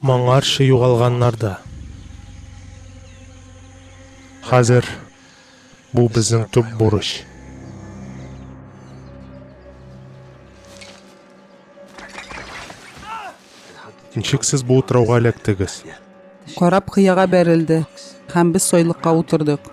Моңарчы югалганнар да. Хәзер бу безнең төп бурыч. Ничек сез бу утрауга эләктегез? Карап кыяга бәрелде һәм без сойлыкка утырдык.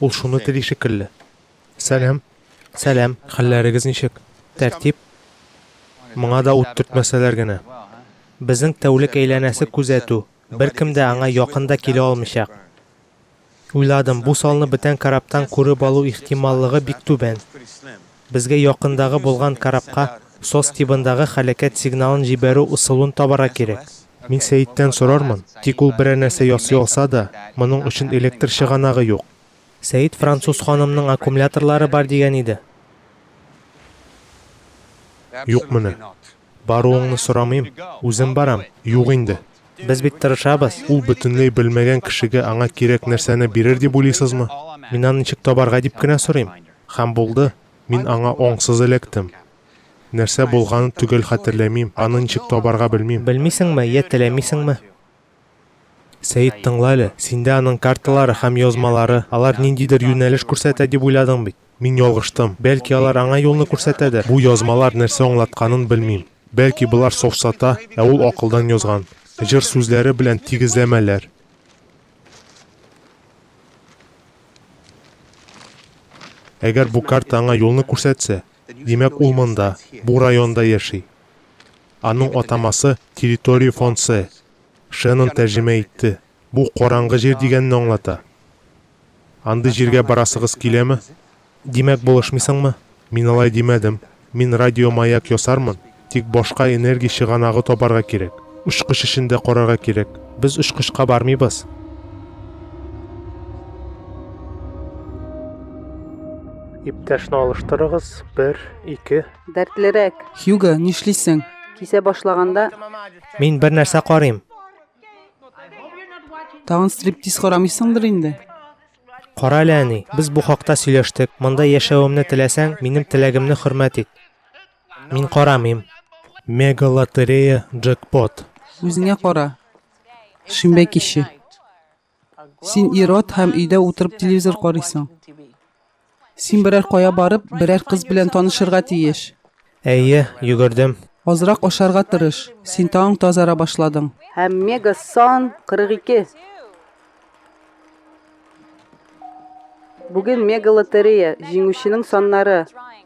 Ул шуны тели шикелле. Сәлам. Сәлам, хәлләрегез ничек? Тәртип? Моңа да ут төртмәсәләр генә. Безнең тәүлек әйләнәсе күзәтү, беркем дә аңа якын да килә алмыйчак. Уйладым, бу салны бетән корабтан күреп алу ихтималлыгы бик түбән. Безгә якындагы булган корабка сос тибындагы хәләкәт сигналын җибәрү ысулын табарга кирәк. Мин Сәеттән сорармын, тик ул берәр нәрсә ясый алса да, моның өчен электр чыганагы юк. Сәет француз ханымның аккумуляторлары бар дигән иде. Юк менә. Баруыңны сорамыйм, үзем барам. Юк инде. Без бит тырышабыз. Ул бөтенләй белмәгән кешегә аңа кирәк нәрсәне бирер дип уйлыйсызмы? Мин аны ничек табарга дип кенә сорыйм. Һәм булды, мин аңа аңсыз эләктем. Нәрсә булганын төгәл хәтерләмим, аны ничек табарга белмим. Белмисеңме, йә теләмисеңме? Сәет, тыңла әле. Синдә аның карталары һәм язмалары, алар ниндидер юнәлеш күрсәтә дип уйладың бит. Мин ялгыштым. Бәлки, алар аңа юлны күрсәтәдер. Бу язмалар нәрсә аңлатканын белмим. Бәлки, болар сафсата, ә ул акылдан язган. Җыр сүзләре белән тигезләмәләр. Әгәр бу карта аңа юлны күрсәтсә, димәк, ул монда, бу районда яши. Аның атамасы, территория фонцы. Шеннон тәрҗемә итте. Бу караңгы җир дигәнне аңлата. Андый җиргә барасыгыз киләме? Димәк, булышмыйсыңмы? Мин алай димәдем. Мин радиомаяк ясармын, тик башка энергия чыганагы табарга кирәк. Очкыч эшен дә карарга кирәк. Без очкычка бармыйбыз. Иптәшне алыштырыгыз, бер, ике. Дәртлерәк. Хьюго, нишлисең? Кисә башлаганда. Мин бер нәрсә карыйм. Тагын стриптиз карамыйсыңдыр инде. Кара әле, әни, без бу хакта сөйләштек. Монда яшәвемне теләсәң, минем теләгемне хөрмәт ит. Мин карамыйм. Мега лотерея джекпот. Үзеңә кара. Шимбә киче. Син ир-ат һәм өйдә утырып телевизор карыйсың. Син берәр кая барып, берәр кыз белән танышырга тиеш. Әйе, йөгердем. Азрак ашарга тырыш. Син тагын тазара башладың. Һәм мега сан 42. Бүген мега лотерея, җиңүченең саннары.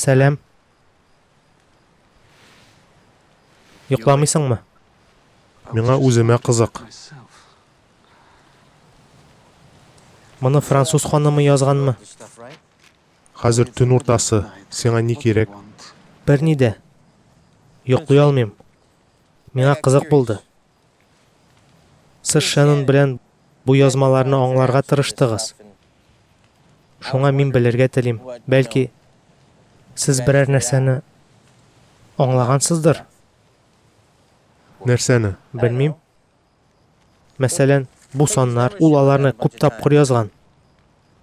Сәлам. Йокламыйсыңмы? Миңа үземә кызык. Моны француз ханымы язганмы? Хәзер төн уртасы, сиңа ни кирәк? Берни дә. Йоклый алмыйм. Миңа кызык булды. Сез Шеннон белән бу язмаларны аңларга тырыштыгыз. Шуңа мин белергә телим. Бәлки, сез берәр нәрсәне аңлагансыздыр? Нәрсәне? Белмим. Мәсәлән, бу саннар, ул аларны күп тапкыр язган.